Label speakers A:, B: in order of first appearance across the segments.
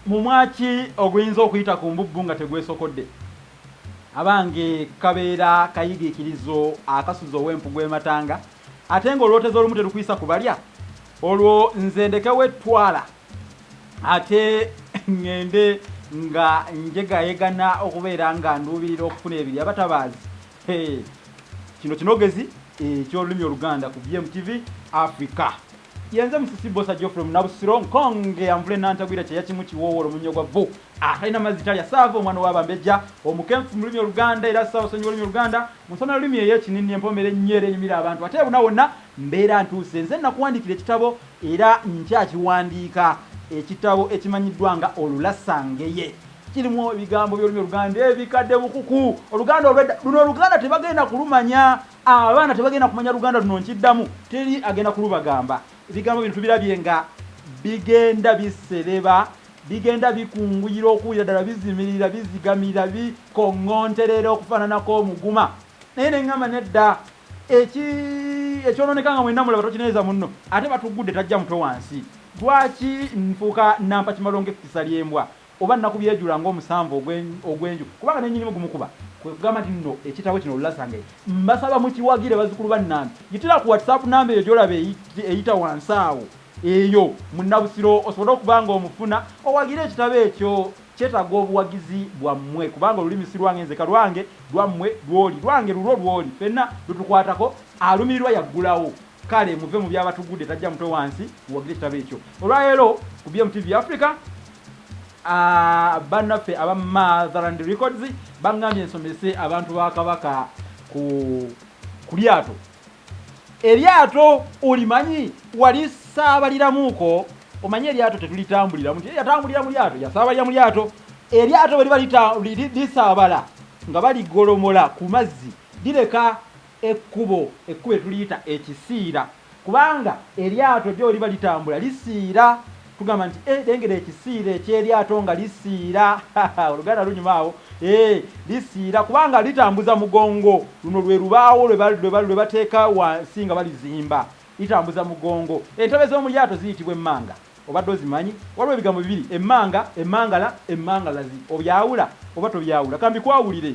A: Mumwa ki oguyinza okuyita ku mbubbu nga tegwesokodde? Abange kabeera kayigiikirizo akasuza ow'empugu e matanga ate ng'olwoteza olumu terukuyisa ku balya? Olwo nze ndekewo ettwala ate ng'ende nga njegayegana okubeera nga nduubirira okufuna ebirya abatabaazi? Hee! Kino kinogezi eky'olulimi Oluganda ku BMTV Africa. Yenze musisi bosa jo from nabusiro nkonge amvule nantagwira kyeya kimu kiwoowo olumunyo gwa vvu atalina ah, mazzi talya saava omwana wa bambejja omukenfu mu lulimi oluganda era saava sonyi olulimi oluganda munsoma lulimi eyo ekinini empomera ennyo era enyumira abantu ate ebuna wonna mbeera ntuuse nze nakuwandiikira ekitabo era nkyakiwandiika ekitabo ekimanyiddwa nga olulasangeye kirimu ebigambo by'olulimi oluganda ebikadde bukuku oluganda olwedda luno oluganda tebagenda kulumanya Abaana tebagenda kumanya Luganda luno nkiddamu teri agenda kulubagamba. Ebigambo bino tubirabye nga bigenda bisereba, bigenda bikunguyira okuwulira ddala bizimirira, bizigamira, bikoŋŋonterera okufaananako omuguma. Naye ne ŋŋamba nedda, eki, ekyonooneka nga mwenna mulaba tokinenyeza munno, ate batuggudde tajja mutwe wansi. Lwaki nfuuka nnampakimalongo ekkisa ly'embwa? oba nnakubyejula ng'omusanvu ogwe, ogw'enju, kubanga ne nnyinimu gumukuba. Kwe kugamba nti, Nno ekitabo kino Olulasangeye, mbasaba mukiwagire bazzukulu ba nnange. Yitira ku WhatsApp nnamba eyo gy'olaba eyi, eyita wansi awo, eyo, Munnabusiro, osobole okuba nga omufuna, owagire ekitabo ekyo. Kyetaaga obuwagizi bwammwe, kubanga olulimi si lwange nzeka, lwange, lwammwe, lw'oli, lwange, lulwo, lw'oli, ffenna lutukwatako. Alumirirwa y'aggulawo. Kale muve mu by'abatugudde tajja mutwe wansi muwagire ekitabo ekyo olwaleero ku BMTV Africa. Ah, bannaffe aba Motherland Records bangambye nsomese abantu ba Kabaka ku ku lyato. Eryato olimanyi wali saabaliramuuko omanyi eryato tetulitambuliramu nti yatambulira mu lyato yasaabalira mu lyato eryato bwe liba lisaabala nga baligolomola ku mazzi lireka Ekkubo, ekkubo lye tuliyita ekisiira, kubanga eryato gy'oliba litambula lisiira. Tugamba nti, Ee, lengera ekisiira eky'eryato nga lisiira! Ha-ha! Oluganda lunyuma awo. Ee, lisiira, kubanga litambuza mugongo. Luno lwe lubaawo lwe ba, lwe ba, lwe bateeka wansi nga balizimba. Litambuza mugongo. Entebe z'omu lyato ziyitibwa emmanga. Obadde ozimanyi? Waliwo ebigambo bibiri, emmanga, emmangala, emmangalazi. Obyawula, oba tobyawula? Ka mbikwawulire.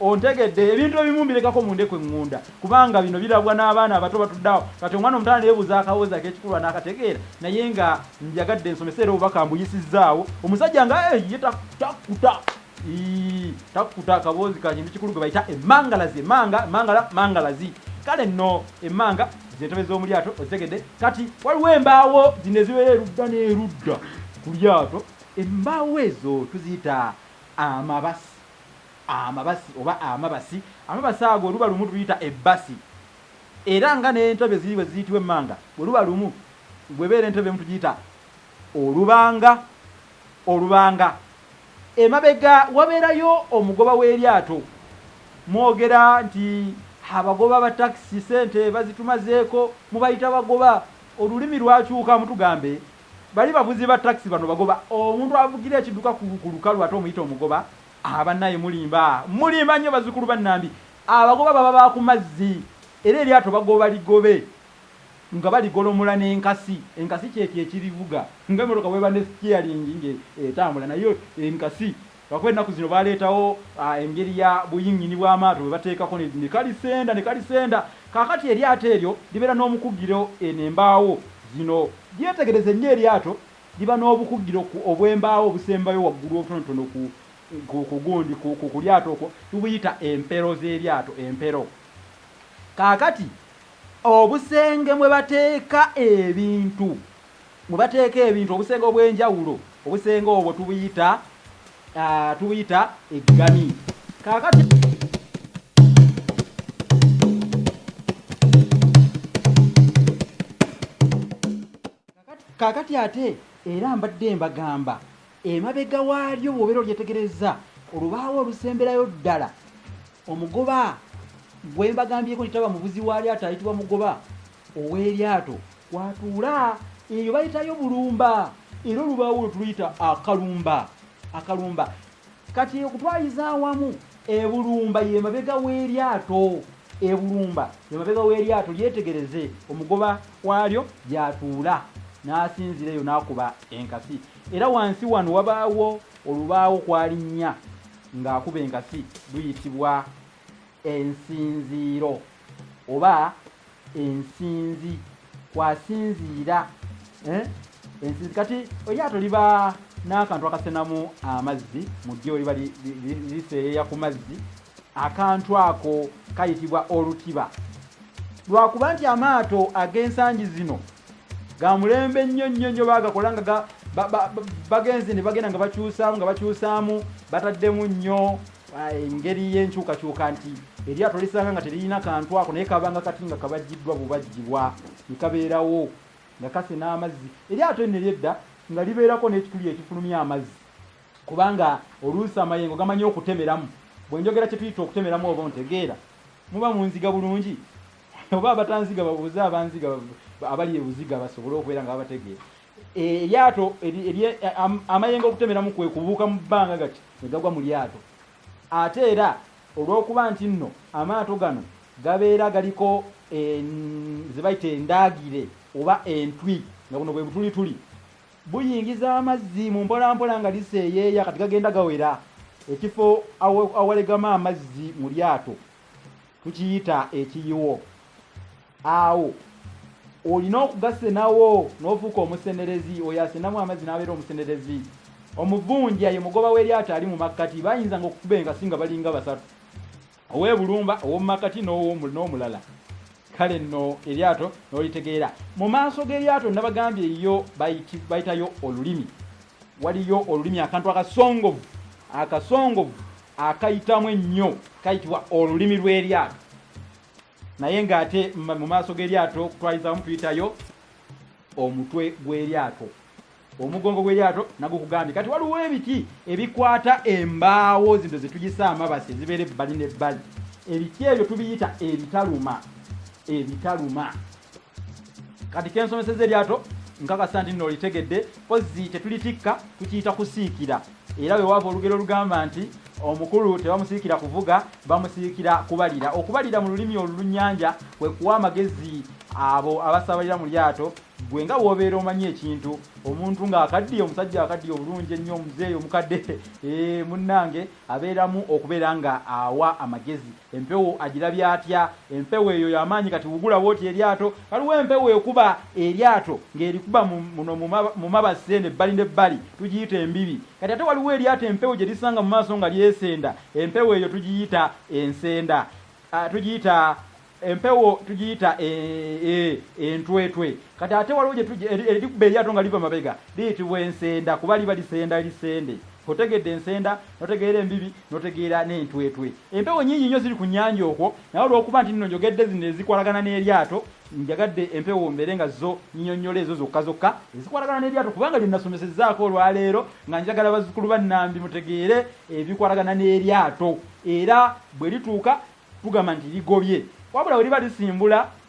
A: Ontegedde, ebintu ebimu mbirekako mu ndeku eŋŋunda kubanga bino birabwa n'abaana abato batudde awo kati omwana omuto aneebuuza akaboozi ak'ekikulu anaakategeera naye nga njagadde nsomese era obubaka mbuyisizzaawo omusajja nga ye takkuta ii takkuta akaboozi ka kintu kikulu gwe bayita emmangalazi emmanga emmangala mangalazi kale nno emmanga ze ntebe z'omu lyato ozitegedde kati waliwo embaawo zino ezibeera erudda n'erudda ku lyato embaawo ezo tuziyita amabasi Amabasi oba amabasi, amabasi ago oluba lumu tuluyita ebbasi era nga n'entebe ziri bwe ziyitibwa emmanga bwe luba lumu, bw'ebeera entebe emu tugiyita olubanga, olubanga. Emabega wabeerayo omugoba w'eryato. Mwogera nti abagoba ba takisi ssente bazitumazeeko, mubayita bagoba, olulimi lwakyuka mutugambe bali bavuzi ba takisi bano bagoba, omuntu avugira ekidduka ku lukalu ate omuyita omugoba Ahaa banaye mulimba mulimba nyo bazukulu ba Nambi abagoba baba ba kumazzi era eryato bagoba ligobe nga baligolomola ne nkasi enkasi kyekyo ekirivuga nga emotoka bweba ne steering nga etambula naye enkasi lwakuba enaku zino baletawo engeri ya buyingini bwa maato bwebatekako ne kalisenda ne kalisenda kakati eryato eryo libera nomukugiro eno embaawo zino byetegereze nyo eryato Liba n'obukugiro ku obw'embaawo obusembayo waggulu obutonotono ku ku ku gundi ku ku ku lyato okwo. Tubuyita empero z'eryato, empero. Kaakati, obusenge mwe bateeka ebintu, mwe bateeka ebintu, obusenge obw'enjawulo, obusenge obwo tubuyita, ah, tubuyita eggani. Kaakati. kaakati ate era mbadde mbagamba emabega waalyo bwobeera olyetegereza olubaawo olusemberayo ddala omugoba gwembagambyeko nitaba mubuzi waalyato ayitibwa mugoba ow'eryato kwatuula eyo bayitayo bulumba era olubaawo olutuluyita akalumba akalumba Kati okutwaliza awamu ebulumba ye mabega w'eryato ebulumba ye mabega w'eryato lyetegereze omugoba waalyo gy'atuula n'asinzira eyo n'akuba enkasi era wansi wano wabaawo olubaawo kwalinnya ng'akuba enkasi luyitibwa ensinziiro. oba ensinzi kwasinziira eh? ensinzi kati eryato liba n'akantu akasenamu amazzi mu ddyo liba liseeyeeya ku mazzi akantu ako kayitibwa olutiba lwakuba nti amaato ag'ensangi zino ga mulembe nnyo nnyo nnyo bagakola nga bagenze ne bagenda nga bakyusaamu nga bakyusaamu bataddemu nnyo engeri y'enkyukakyuka nti eryato lisanga nga teririna kantu ako naye kabanga kati nga kabajjiddwa bubajjibwa ne kabeerawo nga kase n'amazzi eryato eno eryedda nga libeerako n'ekituli ekifulumya amazzi kubanga oluusi amayengo gamanyi okutemeramu bwe njogera kye tuyita okutemeramu oba ontegeera muba munziga bulungi oba abatanziga babuuze abanziga abali ebuziga basobole okubeera nga babategeera eryato amayengo okutemeramu kwe kubuuka mu bbanga gati ne gagwa mu lyato ate era olw'okuba nti nno amaato gano gabeera galiko ze bayita endaagire oba entwi nga buno bwe butulituli buyingiza amazzi mu mpolampola nga liseeyeeya kati gagenda gawera ekifo awalegama amazzi mu lyato tukiyita ekiyiwo awo olina okugasenawo n'ofuuka omusenerezi oyo asenamu amazzi n'abeera omusenerezi omuvunja ye mugoba w'eryato ali mu makkati bayinzanga okukuba enkasi nga balinga basatu ow'e bulumba ow'omu makkati n'omulala kale nno eryato n'olitegeera mu maaso g'eryato nabagambye yo bayitayo olulimi waliyo olulimi akantu akasongovu akasongovu akayitamu ennyo kayitibwa olulimi lw'eryato naye ng'ate mu maaso g'eryato okutwalizamu tuyitayo omutwe gw'eryato omugongo gw'eryato nagwo kugambye kati waliwo ebiti ebikwata embaawo zino zetugisa amabasi ezibeera ebbali n'ebbali ebiti ebyo tubiyita ebitaluma ebitaluma kati kensomeseza eryato nkakasa nti nno olitegedde kozzi tetulitikka tukiyita kusiikira era wewaava olugero olugamba nti omukulu tebamusiikira kuvuga bamusiikira kubalira okubalira mu lulimi olulunyanja kwe kuwa amagezi abo abasabalira mu lyato gwe nga wobeera omanyi ekintu omuntu ng'akaddiye omusajja akaddiye obulungi ennyo omuzeeyi omukadde eh, munnange abeeramu okubeera nga awa amagezi Empewo agirabye atya? Empewo eyo ya maanyi. Kati wugula bw'oti eryato. Waliwo empewo ekuba eryato, ng'erikuba mu, muno mu, mu mabasi eno ebbali n'ebbali. Tugiyita embibi. Kati ate waliwo eryato empewo gye lisanga mu maaso nga lyesenda. Empewo eyo tugiyita ensenda. A, tugiyita empewo, tugiyita e, e, entwetwe. Kati ate waliwo gye tugi, eri, erikuba eryato nga liva mabega. Liyitibwa ensenda, kuba liba lisenda, lisende. Otegedde ensenda? notegeera embibi notegeera n'entwetwe empewo nyingi nnyo ziri ku nnyanja okwo naye olwokuba nti nno njogedde zino ezikwalagana n'eryato njagadde empewo mbeere nga zo nyinyonnyola ezo zokka zokka ezikwalagana n'eryato kubanga lye nasomesezaako olwaleero nga njagala bazzukulu ba nnambi mutegeere ebikwalagana n'eryato era bwe lituuka tugamba nti ligobye wabula we liba lisimbula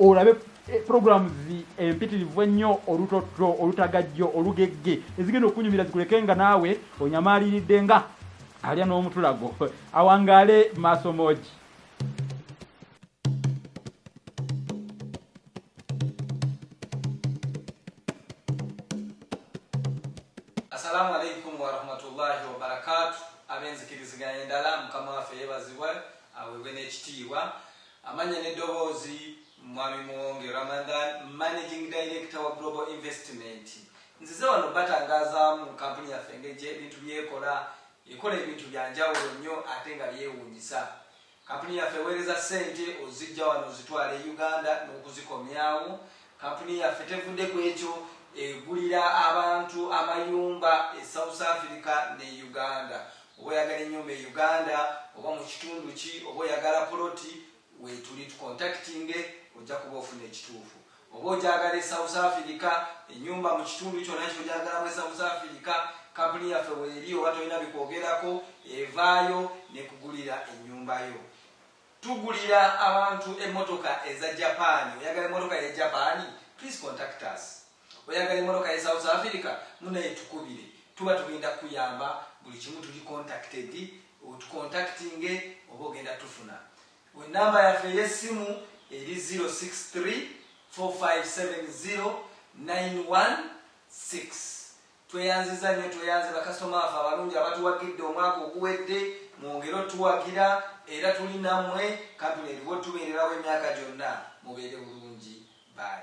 A: olabe eh, programs empitirivu ennyo olutotto olutagajjo olugegge ezigenda okunyumira zikuleke nga naawe onyamaaliridde nga alya n'omutulago awangaale maaso moogi
B: assalamu alaikum warahmatullahi wabarakatu abenzikiriziganya endala mukama waffe yebazibwa awebwe n'ekitiibwa Amannya n'eddoboozi, Mwami Muwonge Ramadhan, Managing Director wa Global Investment. Nzize wano batangazaamu kkampuni yaffe engeri gye ebintu by'ekola. Ekola ebintu bya njawulo nnyo ate nga byewuunyisa. Kkampuni yaffe eweereza ssente oziggya wano ozitwala e Uganda n'okuzikomyawo. Kkampuni yaffe tevudde ku ekyo, egulira abantu amayumba e South Africa ne Uganda. Oba oyagala enyumba e Uganda oba mukitundu ki oba oyagala poloti wetuli tukontakitinge ojja kuba ofuna ekituufu. Oba ogyagala e South Africa enyumba mukitundu kyona kyogyagalamu e South Africa kapuni yaffe weri oba tolina bikwogerako evaayo nekugulira enyumba yo. Tugulira abantu emotoka eza Japan oyagala emotoka ye Japan please contact us. Oyagala emotoka ye South Africa munaye tukubire tuba tugenda kuyamba buli kimu tuli contacted otucontactinge oba ogenda tufuna we number yaffe eyesimu eri 0634570916 tweyanziza nyo tweyanze bakasitoma baffe abalungi abatuwagidde omwaka oguwedde mwongere otuwagira era tuli namwe kampuni eriwo tubererawo emyaka gyonna mubeere bulungi bye.